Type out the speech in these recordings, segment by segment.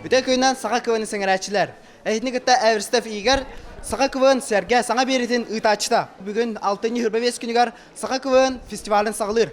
Бүтэ күнүнэн саха квн сэҥэрээччилэр. Эһитини кытта Эверстов Игорь Саха КВН сэргэ саҥа биэритин ыытааччыта. Бүгүн 6 иһирбэвиэс күнүгэр Саха КВН фестивалин саҕалыыр.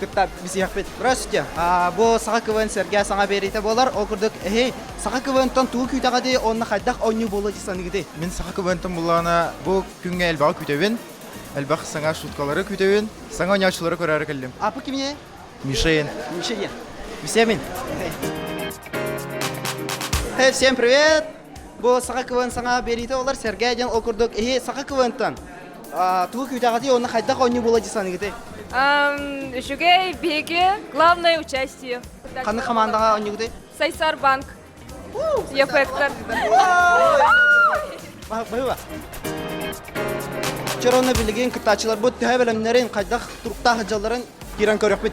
кытта бисиэхпит Здрасте, бу саха квн сэргэ саҥа биэриитэ буолар ол курдук эһей саха квнтан тугу күүтэҕитий уонна хайдах оонньуу буолла дии саныыгытый мин саха квнтан буллаҕына бу күҥҥэ элбэҕи күүтэбин элбэх саҥа шуткалары күүтэбин саҥа оонньооччулары көрөөрү кэллим а по кимне мишейн мишейен Всем привет! Бу саха квн саҥа биэриитэ олор сэргээ диэн ол курдук иһи саха квнтан тугу күүтэҕитий уонна хайдах оонньуу буола дии саныыгытый? Үчүгэй биһиги главное участие. Ханна хамаандаҕа оонньуугутуй? Сайсар банк. Ефектор. Быһыба. Вчера онно билигин кыттааччыларбыт төһө бөлөмнөрүн, хайдах туруктаах дьалларын киирэн көрүөхпүт.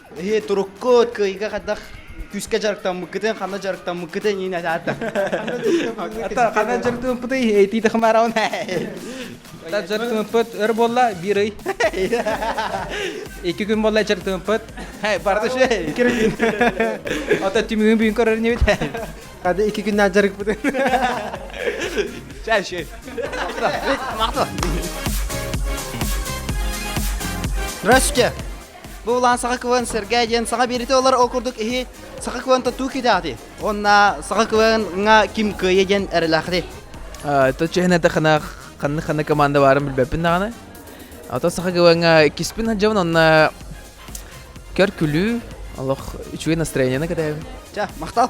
Эһи, туруккут, кыайга хадах күүскэ дьарыктаммыккытын, ханна дьарыктаммыккытын иин атаата. Ата, ханна дьарыктампытый, эйтиите хамараун. Та дьарыктампыт өр буолла, биир ый. Икки күн буолла дьарыктампыт. Барда ше, икки күн. Ата түмүгүн бүгүн көрөр небит. Хады икки күннән дьарыкпытын. Чай, чай. Махто. Здравствуйте. Бу улаан саха квн сэргээ диэн саха биэрити олор ол курдук иһи саха квн тутуу кидаати. Онна саха квн-ҥа ким кыайы диэн эрэлээхти. Это чехне тахана ханны ханна команда барын билбеппин даҕаны. Ото саха квн-ҥа киспин хаджабын онна көр күлүү олох үчүгэй настроение катаабын. Ча, махтал.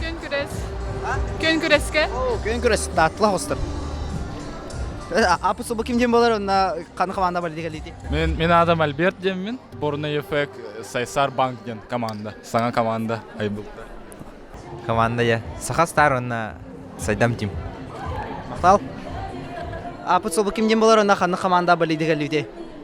Күн-күрэс. Күн-күрэскэ? Күн-күрэс, тааттылах остор. Аппус ким дем болар онна хан команда политика лити. Мен мен адам Альберт деммин. Борна ефек Сайсар банк ден команда. Саңа команда айбылта. Команда я. Саха стар онна Сайдам тим. Мақтал. Аппус ким дем болар онна хан команда политика лити.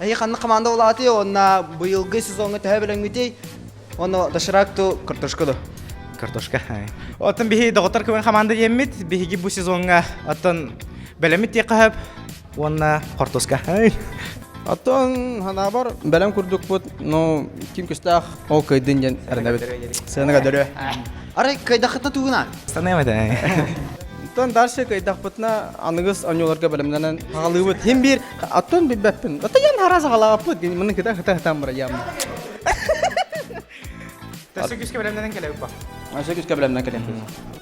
Эһи ханна команда улаатый онна быйылгы сезоҥҥа төһө билэҥҥитий онно доширакту картошка да картошка оттон биһи доҕоттор көмөн хамаанда диэммит биһиги бу сезоҥҥа оттон бэлэммит тиэххэһэп уонна хортуска Оттон ханаабар бэлэм курдукпут, ну, ким көстөөх ол кыйдын диэн эрэнэбит. Сыаныга дөрө. Арай кыйдахыта тугуна? Станыам этэ. Оттон дальше кыйдахпытына аныгыс онньуларга бэлэмнэнэн хагалыыбыт. Хим биир оттон билбэппин. Отто ян харас хагалааппыт. Мыны кыта хата хатам бара яам. Төссө күскэ бэлэмнэнэн кэлэбит ба. Өсө күскэ бэлэмнэнэн кэлем.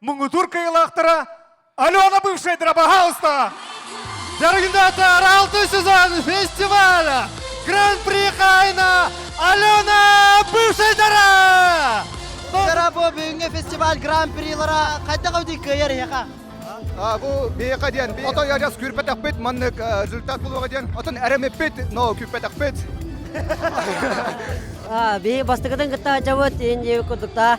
муҥутуур кыйылаахтара Алена бывшая пожалуйста! Дорогата Аралты сезон фестиваля Гран-при Хайна Алена бывшая дара! Дара бүгүҥҥү фестиваль гран-прилара хайдах өдүй кыйар иһэха? Бу биһиэхэ диэн отой ажас күүрпэтэхпит маннык результат булуоҕа диэн отон эремиппит но күүппэтэхпит биһи бастыкытын кытта дьабыт инди курдукта